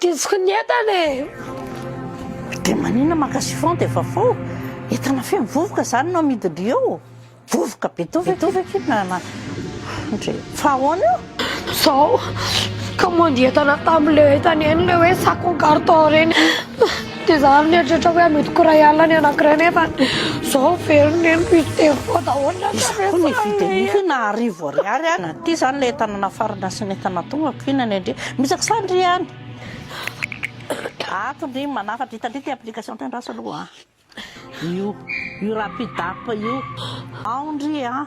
Didsiko ny entana e! Dia maninona maka chiffon dia efa fou? Entana feno vovoka izany no amidin-dry eo? Vovoka be to ve ity na na ndry fa ahoana io? Izao, nikaomandy entana tamin'ilay entana eny ilay hoe sac en carton ireny. Dia za mieritreritra hoe mety ko ray alina ny anakiray nefa zao very ny reniko izy telo koa daholo ny ankamaroany. Iza koa ny hividy an'io io na arivo ariary ary na ty zany le entana nafarana sy ny entana tonga ko ina ny andria misaky sa ndry any ato ndry manafatra ita ndry ty application ty andraso aloha a io io rapid app io ao ndry a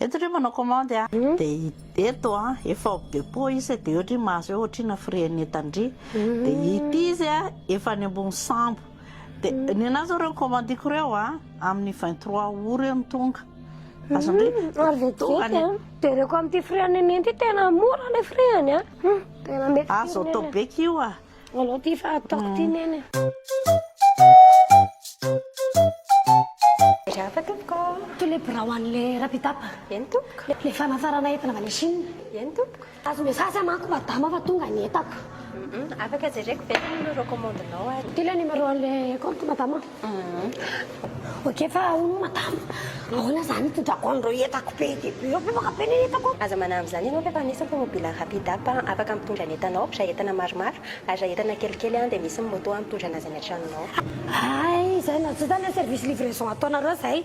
Eto ohatry hoe manao commande a dia eto a efa au depot izy dia ohatry hoe mahazo hoe ohatrina frais net an-dry dia ity izy a efa any ambony sambo dia ny anah zao ireo commande-ko ireo a amin'ny vingt trois aout ireo no tonga azon-dry ary vetivety a jereko amin'ity frais net ity tena mora ilay frais-ny a tena mety firy ny anah. Azo atao beka io a. Alao ty fa ataoko ty neny. Ry hafa tompoko ô. Toy le birao an'le Rapidap. Eny tompoko. Le le fanafarana entana avy any Chine. Eny tompoko. Azo message aho manko madama fa tonga ny entako. Afaka jereko ve le numéro commande-nao ary. Ty le numéro an'le compte madama. Ok fa hono madame, ahoana zany hitondrako an'ireo entako be dia be, efa bevaka be ny entako. Aza manambina izany ianao f'efa misy ny tomobila rapid up afaka mitondra ny entanao, raha entana maromaro, ary raha entana kelikely dia misy ny moto mitondra an'azy any an-tranonao. Hay izay na tsy izany an service livraison ataonareo izay.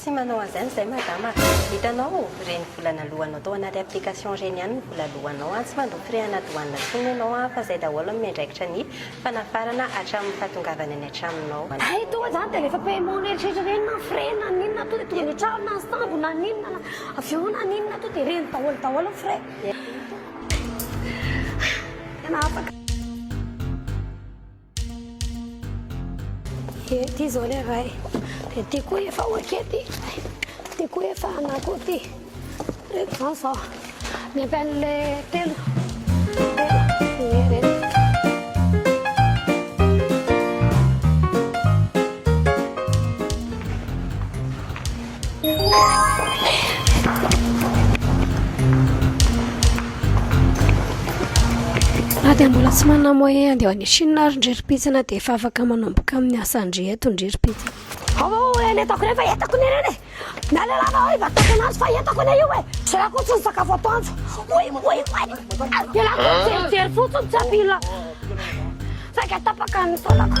Tsy manao anzany izay madama a! Hitanao reny vola naloanao tao anaty application reny ihany no vola loanao a! Tsy mandoa frais ana douane intsony ianao a! Fa izay daholo amin'ny andraikitra ny fanafarana hatramin'ny fahatongavany any an-tranonao. Hay toa zany dia rehefa paiement n'eritreritra reny na frais na n'inona toa dia tonga any an-trano na sambo na n'inona na avion na n'inona toa dia reny daholo daholo ny frais. Tena afaka. Ety izao le ray. Dia ty koa efa okety. Ty koa efa anako ty. Reto izany izao. Ny ampy an'le telo. Raha dia mbola tsy manana moyen andeha any Chine ary ndry ripitsana dia efa afaka manomboka amin'ny asa ndry eto ndry ripitsana. Hava o eny etako rehefa etako ny reny. Nalalava oi va tokana azy fa etako ny io e. Tsy rako tsy sakafo atoandro. Oi oi oi. Dia lako mijery fotsiny tsy apila. Saika tapaka ny taolako.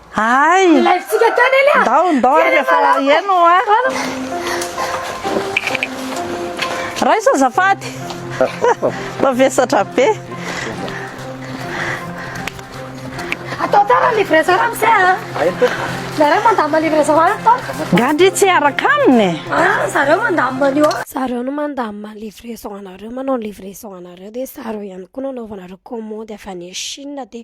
Ay! Live-tsika tany anie a! Ndao, ndao ary rehefa heno a! Raiso azafady! Mba vesatra be! Atao tsara livraison ramose a! Zareo mandamina livraison any tao! Gandry tsy hiaraka aminy e! Ah, zareo mandamina an'io a! Zareo no mandamina ny livraison anareo, manao ny livraison anareo dia zareo ihany koa no anaovanareo commande avy any Chine dia